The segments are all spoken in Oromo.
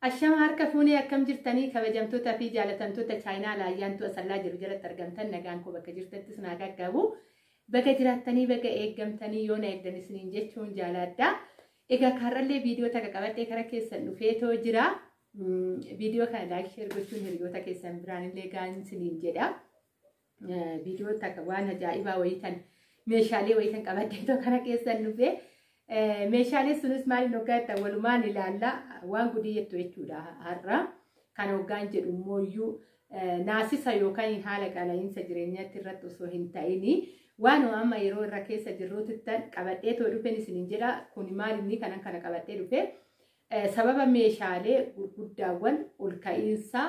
Ashama harka fuunee akkam jirtanii kabajamtoota fi jaalatamtoota chaayinaa laayyaantu asallaa jiru jalatti argamtan nagaan koo bakka jirtatti isin haa qaqqabu. Baga jiraattanii baga eeggamtanii yoo na eegdan isiniin jechuun jaalaadha. Egaa kaarrallee viidiyoo takka qabadhee kara keessan dhufee too jira. Viidiyoo kana laayik sheer gochuun hiriyoota keessan biraan illee gahaan isiniin jedha. Viidiyoo takka waan ajaa'ibaa wayii kan meeshaalee wayii kan qabadde too kana keessan dhufee meeshaalee sunis maaliin hoggaa jettan walumaan ilaalla waan gudii jettu jechuudha har'a. Kan hoggaan jedhu immoo iyyuu naasisa yookaan haala qaala'insa jireenyaatti irratti osoo hin ta'in waan amma yeroo irra keessa jirruutti qabadhee too dhufeen isiniin jedha kun maal inni kanan kana qabadhee dhufee Sababa meeshaalee gurguddaawwan ol ka'iinsaa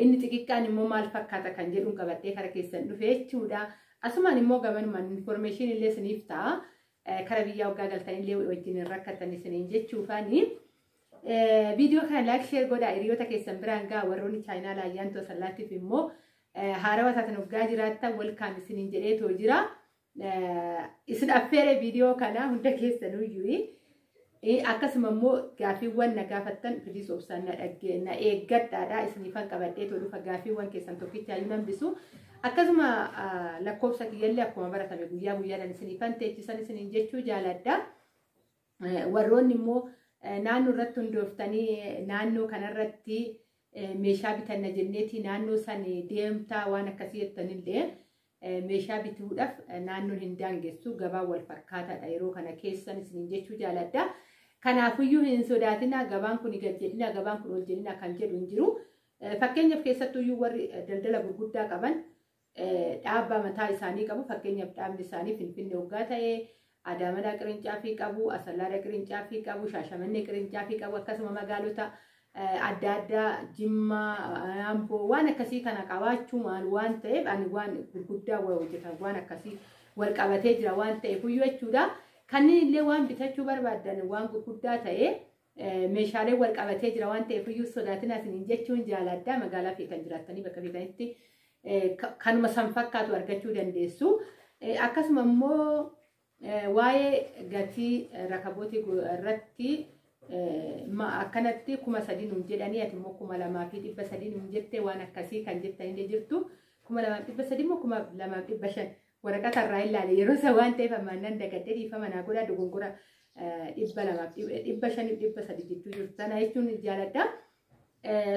inni xixiqqaan immoo maal fakkaata kan jedhuun qabadhee kara keessan dhufe jechuudha. Asumaan immoo gamanumaan infoormeeshinii illee isiniif ta'a. Kara biyyaa waggaa galtan illee wajjin hin rakkatan isiniin jechuufaani. Viidiyoo kana laayik sheer godhaa hiriyoota keessan biraan ga'a warroonni chaayinaal ayyaantu asallaatiif immoo haarawa taatan waggaa jiraattan welkaam isiniin jedheetoo jira. Isin affeeree viidiyoo kana hunda keessanuu iyyuu akkasuma immoo gaaffiiwwan na gaafattan biliis obsaan na dhaggee na eeggadhaadha isiniifan qabadhee tolufa gaaffiiwwan keessan tokkicha iyyuu nan bisu akkasuma lakkoofsa kiyyallee akkuma baratame guyyaa guyyaadhaan isiniifan teechisan isiniin jechuu jaaladha warroonni immoo naannoo irratti hundooftanii naannoo kanarratti meeshaa bitanna jenneeti naannoo san deemtaa waan akkasii jettanillee meeshaa bituudhaaf naannoon hin daangessu gabaan wal fakkaataadha yeroo kana keessan isiniin jechuu jaaladha. Kanaafiyyuu hin sodaatina gabaan kun gad jedhina gabaan kun ol jedhina kan jedhu hin jiru. Fakkeenyaaf keessattuyyuu warri daldala gurguddaa qaban dhaabbaa mataa isaanii qabu fakkeenyaaf dhaabni isaanii finfinnee hoggaa ta'e Adaamadhaa qirincaaffii qabu, Asallaadha qirincaaffii qabu, Shaashamannee qirincaaffii qabu akkasuma magaalota adda addaa Jimmaa, Amboo waan akkasii kana qabaachuu maal waan ta'eef ani waan gurguddaa hojjetan waan akkasii wal qabatee jira waan ta'eef iyyuu jechuudha. Kanneen illee waan bitachuu barbaadan waan gurguddaa ta'e meeshaalee wal qabatee jira waan ta'eef iyyuu sodaatinaa isiniin jechuun jaalaaddaa magaalaa fi kan jiraattanii bakka feetanitti kanuma san fakkaatu argachuu dandeessu. Akkasuma immoo waa'ee gatii rakabootii irratti akkanatti kuma sadii nuun jedhanii ati immoo kuma lamaa fi dhibba sadii nuun jettee waan akkasii kan jettan illee jirtu. Kuma lamaa fi dhibba sadii immoo kuma lamaa fi dhibba shan Waraqata irraa hin laale yeroo isa waan ta'eef ammaan nan dagadhee dhiifama naa godhaa dogongora dhibba lamaaf dhibba shaniif dhibba sadi jechuu jirtu sana jechuun jaaladha.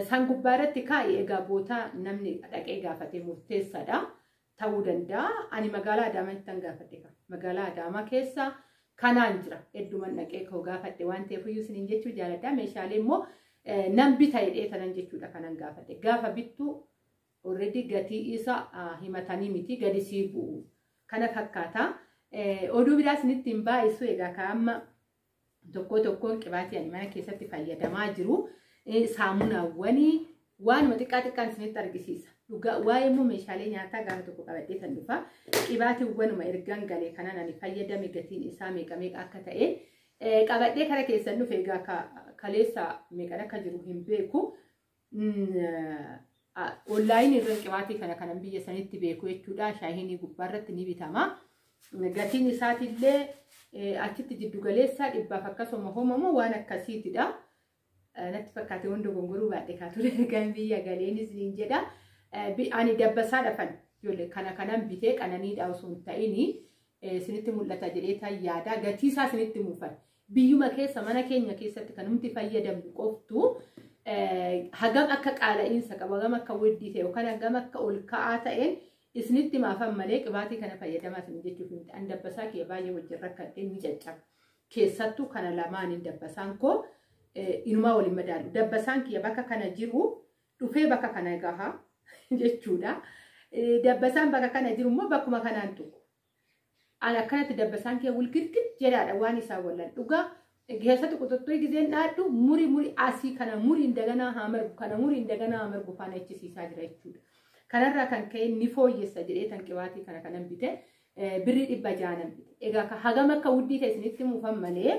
Isaan gubbaa irratti kaa'i egaa bootaa namni dhaqee gaafate murteessaadha. Ta'uu danda'a. Ani magaalaa Adaamaa ittiin gaafadhe qaba. Magaalaa Adaamaa keessa kanaan jira. Hedduman dhaqee koo gaafadhe waan ta'eef iyyuu isiniin jechuu jaaladha. Meeshaalee immoo nan bita jedhee tanan jechuudha kanan gaafadhe. Gaafa bittu Already gatii isa himatanii miti gadi sii bu'u kana fakkaata. Oduu biraa isinitti hin baay'isu egaa ka amma tokkoo tokkoon qibaatii ani mana keessatti fayyadamaa jiru saamunaawwanii waanuma xiqqaa xiqqaan isinitti argisiisa. Dhugaa waa'ee immoo meeshaalee nyaataa gaafa tokko qabadhee tan dhufa. Qibaatiiwwanuma ergan galee kanan ani fayyadame gatiin isaa meeqa meeqa akka ta'e qabadhee kara keessan dhufe egaa kaleessa meeqan akka jiru hin beeku. Online irra qibaatii kana kanan biyya sanitti beeku jechuudha. Shaahinii gubbaa irratti ni bitama. Gatiin isaatiillee achitti jiddu galeessaa dhibbaaf akkasuma homamoo waan akkasiitidha. Natti fakkaate waan dogongoruu baadhe kaatudha. Kan biyya galeenis niin jedha. Ani dabbasaa dhafan ijoollee kana kanan bitee qananiidha osoo hin ta'ini isinitti mul'ata jedhee tan yaada. Gatii isaa isinitti muufan. Biyyuma keessa mana keenya keessatti kan nuti fayyadamnu qoftu hagam akka qaala'iinsa qabu hagam akka weddii ta'e yookaan hagam akka ol ka'aa ta'een isinitti maafan malee qibaatii kana fayyadamaa isin jechuuf miti an dabbasaa kiyya baay'ee wajjin rakkadhee ni caccaba keessattuu kana lamaaniin dabbasaan koo inumaa waliin madaalu dabbasaan kiyya bakka kana jiru dhufee bakka kana gaha jechuudha dabbasaan bakka kana jiru immoo bakkuma kanaan tuqu An akkanatti dabbasaan kee wilgitgit jedhaadha waan isaa wallan dhugaa keessatti quxuxxuu gizeen dhaadhu muri muri asii kana muri indaganaa haa margu kana muri indaganaa haa margu faana ichisiisaa jira jechuudha. Kanarraa kan ka'e ni fooyyessa jedhee tan qibaatii kana kanan bite birrii dhibba jaanan bite. Egaa ka hagam akka wuddii ta'e isinitti muufan malee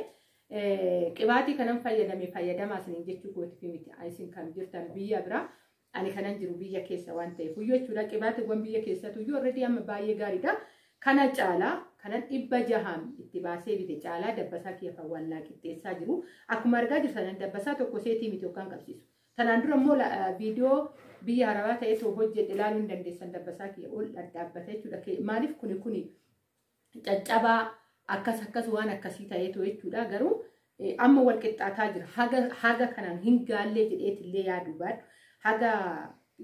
qibaatii kanan fayyadame fayyadamaa isiniin jechuu gootifi miti isin kan jirtan biyya biraa. Ani kanan jiru biyya keessa waan ta'eef huyyoo jechuudha. Qibaatiiwwan biyya keessatu iyyuu already amma baay'ee gaariidha. Kana caalaa kanan dhibba jahaan itti baasee bite caalaa dabbasaa kiyya kan waan naa qixxeessaa jiru. Akkuma argaa jirtan dabbasaa tokko seetii miti yookaan qabsiisu. Tanaan dura immoo viidiyoo biyya harabaa ta'etu hojjedhe ilaaluu hin dandeessan dabbasaa kiyya ol dhadhaabbata jechuudha. Maaliif kuni kuni caccabaa akkas akkas waan akkasii ta'eetu jechuudha garuu eh, amma wal qixxaataa jira haga haga kanaan hin gaallee jedheetillee yaadu baadhu haga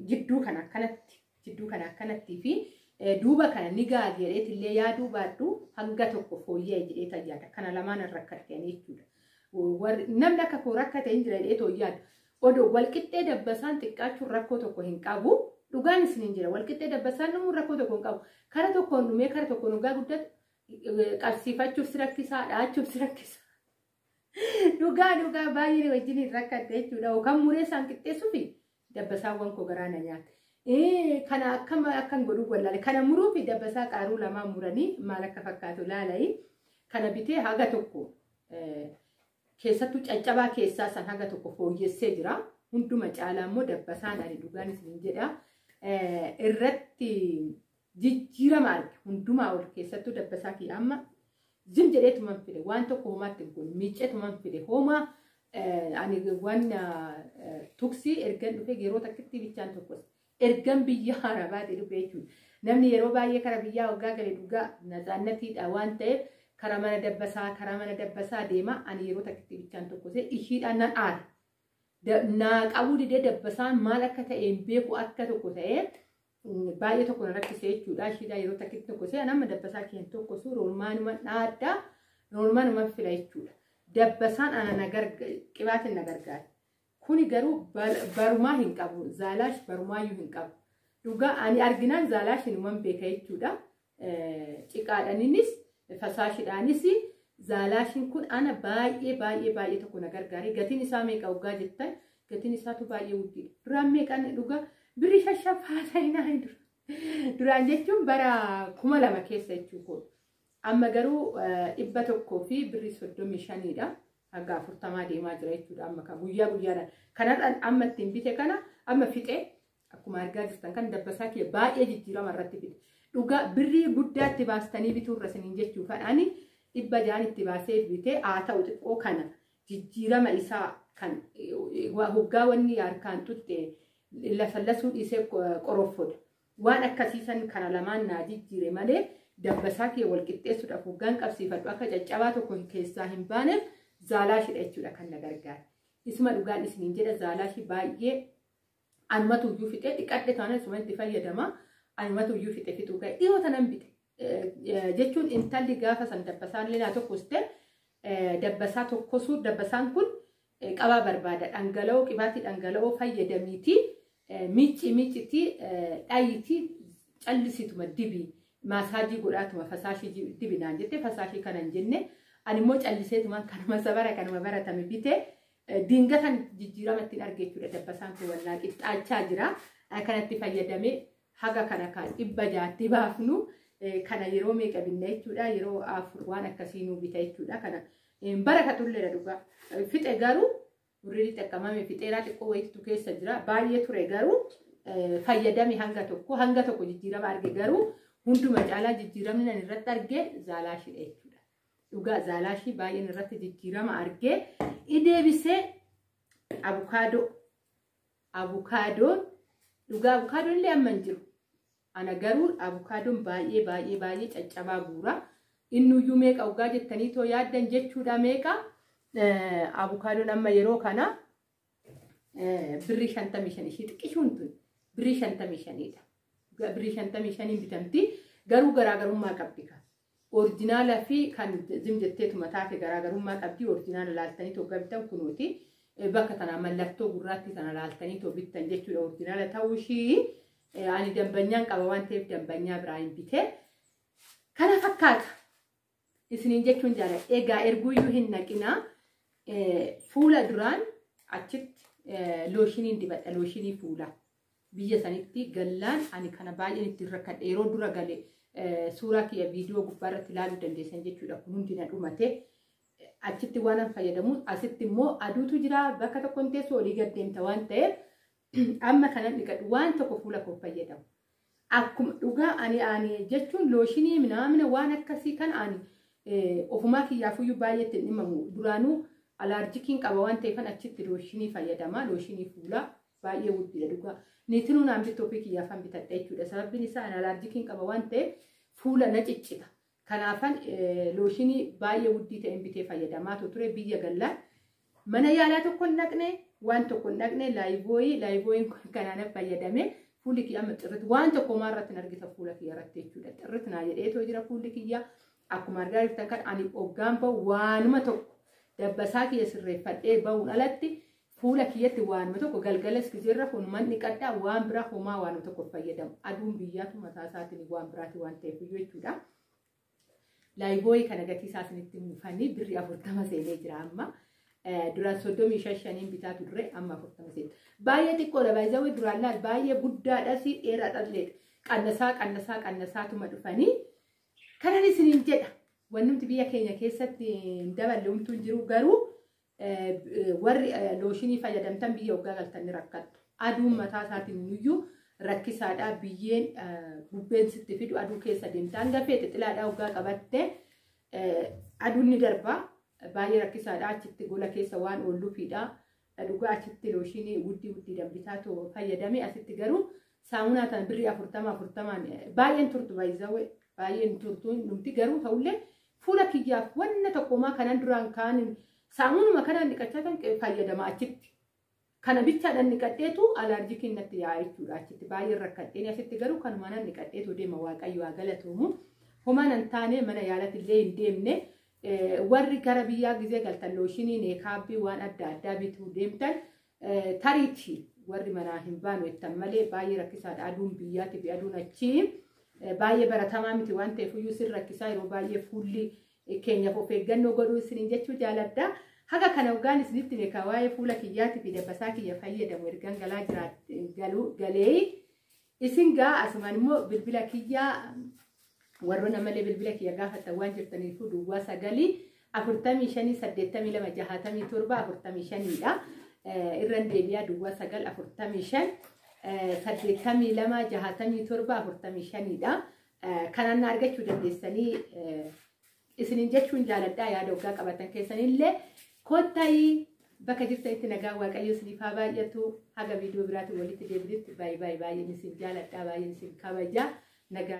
jidduu kana akkanatti jidduu kana akkanattii fi eh, duuba kana ni gaal jedheetillee yaaduu baadhu hanga tokko fooyya'e jedheeta yaada kana lamaan irra rakkatanii jechuudha. Warri- Namni akka koo rakkate hin jira jedhee too yaadu Oduu, Walqixxee Dabbasaan xiqqaachuun rakkoo tokko hin qabu. Dhugaan isiniin jira. Walqixxee Dabbasaan dhumuun rakkoo tokko hin qabu. Kara tokkoon dhumee kara tokkoon hoggaa guddatu eh, qabsiifachuuf si rakkisaa, dha'achuuf si rakkisaa. Dhugaa dhugaa baay'ee wajjin hin rakkatte jechuudha. Yookaan muree isaan qixxeessuufi dabbasaawwan koo garaa na nyaata. Eh, Kana akkam akkan godhuu wallaale. Kana muruu fi dabbasaa qaaruu lamaan muranii maal akka fakkaatu laala'ii. Kana bitee haga tokko eh, Keessattuu caccabaa keessaa san haga tokko fooyyessee jira. Hunduma caalaa immoo dabbasaan ani dhugaan isiniin jedha. Irratti jijjiirama arge hundumaa ol keessattuu dabbasaa kiyya amma zim jedhee tuman fide waan tokko homaatti hin kun miicee tuman fide homaa ani waan tuksii ergan dhufee yeroo takkitti bichaan tokkos Ergan biyya Arabaatii dhufe jechuudha. Namni yeroo baay'ee kara biyyaa waggaa gale dhugaa natsaannatiidha waan ta'eef kara mana dabbasaa kara mana dabbasaa deema ani yeroo takkitti bichaan tokkosee ishiidhaan nan aara. Naa qabuu didee dabbasaan maal akka ta'e hin beeku akka tokko ta'ee baay'ee tokko na rakkise jechuudha. Ishiidhaan yeroo takkitti tokkosee ani amma dabbasaa kee hin tokkosu roormaanuma dhaaddaa roormaanuma fila jechuudha. Dabbasaan ana na gargaara qibaatiin na gargaara. Kuni garuu barumaa hin qabu. Zaalaash barumaayyuu hin qabu. Dhugaa ani arginaan zaalaash hinuman beeka jechuudha. Ciqaadhaniinis fasaashidhaanis zaalaashin kun ana baay'ee baay'ee baay'ee tokko na gargaare. Gatiin isaa meeqa hoggaa jettan gatiin isaatu baay'ee guddiidha. Duraan meeqan dhugaa birri shashaaf haasa'inaa hin dura. Duraan jechuun bara kuma lama keessa jechuudha. Amma garuu dhibba tokkoo fi birri soddomii shaniidha. hanga afurtamaa deemaa jira jechuudha amma kan guyyaa guyyaadhaan kanarraan amma ittiin bite kana amma fixee akkuma argaa jirtan kan dabbasaa kiyya baay'ee jijjiirama irratti fide dhugaa birrii guddaa itti baastanii bituu irra isiniin jechuu fadhaani dhibba jaan itti baasee bitee haa ta'u xiqqoo kana jijjiirama isaa kan hoggaa wanni harkaan tutte lafallasuu dhiisee qoroffodha. Waan akkasii san kara lamaan naa jijjiire malee dabbasaa kiyya wal qixxeessuudhaaf hoggaan qabsiifadhu akka caccabaa tokko keessaa hin baaneef zaalaashidha jechuudha kan na gargaare. Isuma dhugaan isiniin jedha zaalaashii baay'ee anumatu iyyuu fixee dhiqadhe taana isuma itti fayyadama anumatu iyyuu fixe fixuu ka'e dhiyoo tanan bite jechuun intalli gaafa san dabbasaan illee naa tokkoste dabbasaa tokkosuu dabbasaan kun qabaa barbaada dhangala'oo qibaatii dhangala'oo fayyadamiiti miicci miiccitii dhayitii callisituma dibi maasaajii godhaatuma fasaashii dibi naan jette fasaashii kana hin jenne ani immoo calliseetuma kanuma sabara kanuma baratame bite dingatan jijjiirama ittiin arge jechuudha dabbasaan kun wallaa qixxaachaa jira kanatti fayyadamee haga kana kan dhibba jaatti baafnu kana yeroo meeqa binna jechuudha yeroo afur waan akkasii nuu bita jechuudha kana bara ka tulleera dhugaa fixe garuu birrii xaqqamame fixeeraa xiqqoo wayiitu keessa jira baay'ee ture garuu fayyadame hanga tokko hanga tokko jijjiirama arge garuu hunduma caalaa jijjiiramni nan irratti arge zaalaashidha jechuudha dhugaa zaalaashii baay'een irratti jijjiirama arge ideebisee abukaadoo Abukaadoon dhugaa abukaadoon illee amma hin jiru. Ana garuu abukaadoon baay'ee baay'ee baay'ee caccabaa guura. Innuyyuu meeqa dhugaa jettanii too yaaddan jechuudha meeqa abukaadoon amma yeroo kana birrii shantamii shan ishee xiqqishuun tun birrii shantamii shaniidha. Birrii shantamii shaniin bitamti garuu garaagarummaa qabdi kan. Orijinaala fi kan zim jetteetuma taate garaagarummaa qabdi. Orijinaala laaltanii too gabitan kunooti. Bakka tana mallattoo gurraattii tana laaltanii too bittan jechuudha. Orijinaala ta'uu ishii ani dambanyaan qaba waan ta'eef dambanyaa biraa hin bitee. Kana fakkaata. Isiniin jechuun jaalladha. Egaa erguuyyuu hin naqinaa. Fuula duraan achitti looshiniin dibadha. Looshinii fuulaa. biyya sanitti gallaan ani kana baay'een ittiin rakkadhe yeroo dura gale suuraa kiyya viidiyoo gubbaa irratti ilaaluu dandeessan jechuudha kun hundi na dhumate achitti waan an fayyadamuun asitti immoo aduutu jira bakka tokko hin teessu olii gad deemta waan ta'eef amma kanan dhiqadhu waan tokko fuula koo fayyadamu akkuma dhugaa ani ani jechuun looshinii minaamina waan akkasii kan ani ofumaa kiyyaafuyyuu baay'eetti hin dhimamu duraanuu alaarjikiin qaba waan ta'eefan achitti looshinii fayyadama looshinii fuulaa Baay'ee wuddiidha dhugaa. Niitinuu naan bittu ofii kiyyaaf han bitadha jechuudha. Sababbiin isaa ana alaarjikiin qaba waan ta'eef fuula na ciccita. Kanaafan looshinii baay'ee wuddii ta'een bitee fayyadamaa ture biyya gallaan. Mana yaalaa tokko hin dhaqne waan tokko hin dhaqne laayibooyii laayibooyiin kun kanaan fayyadamee fuulli kiyya amma xirrit waan tokko maa irratti hin argita fuula kiyya irratti jechuudha. Xirrit naa jedhee too jira fuulli kiyya akkuma argaa jirtan kan ani oggaan bahu waanuma tokko dabbasaa kiyya sirreeffadhee bahuun alatti Fuula kiyyatti waanuma tokko galgalas gizee rafu numan dhiqadha waan biraa homaa waanuma tokko fayyadamu aduun biyyaatu mataa isaatiin waan biraati waan ta'eef iyyuu jechuudha. Laayibooyii kana gatii isaa isinitti muufanii birri afurtama seenee jira amma. Duraan soddomii shan shaniin bitaa turre amma afurtama seena. Baay'ee xiqqoodha baay'ee duraan laal baay'ee guddaadhas dheeraadhas leedha. Qannasaa qannasaa qannasaatuma dhufanii kanan isiniin jedha. Wannumti biyya keenya keessatti hin daballe humtuu hin jiru garuu warri looshinii fayyadamtan biyyee waggaa galtan ni rakkattu. Aduun mataa isaatiin nuyyuu rakkisaadhaa biyyeen bubbeen sitti fidu aduu keessa deemtaan dafee xixilaadhaa waggaa qabatte aduun ni darba baay'ee rakkisaadhaa achitti gola keessa waan oolluufiidhaa dhugaa achitti looshinii wuddii wuddii danbitaatu fayyadame asitti garuu saamunaa tan birrii afurtama afurtamaan baay'een turtu baay'isawee baay'een turtu numti garuu ta'ullee Fuula kiyyaaf wanna tokko homaa kanan duraan kaanin saamunuma kanaan dhiqachaa tan fayyadama achitti. Kana bichaadhaan dhiqadheetu alaarjikiin natti yaa'a jechuudha achitti baay'ee rakkadheen asitti garuu kanuma nan dhiqadheetu deema waaqayyo haa galatoomu. Homaa nan taane mana yaalatti illee hin deemne warri gara biyyaa gizee galtan looshinii neekaabbii waan adda addaa bituu deemtan Tariiti warri manaa hin baanu jettan malee baay'ee rakkisaadha aduun biyyaati fi aduun achii baay'ee baratamaa miti waan ta'eef iyyuu sin rakkisaa yeroo baay'ee fuulli keenyaaf of eeggannoo godhuu isiniin jechuu jaaladha. Haga kana ogaan isinitti beekaa waa'ee fuula kiyyaatii fi dabbasaa kiyya fayyadamu ergan galaa jiraat galuu galee Isin gaa asumaan immoo bilbila kiyya warroon ammallee bilbila kiyya gaafattan waan jirtaniifuu duwwaa sagalii afurtamii shanii saddeettamii lama jahaatamii torba afurtamii shaniidha. Irran deebi'aa duwwaa sagal afurtamii shan saddeettamii lama jahaatamii torba afurtamii shaniidha. Kanaan na argachuu dandeessanii isinin jechuun jaaladhaa yaada oggaa qabatan keessanillee kottayi bakka jirtanitti nagaa waaqayyo isiniif haa baay'atu haga viidiyoo biraatiin walitti deebinutti baay'ee baay'ee baay'een isin jaaladhaa baay'een isin kabaja nagaa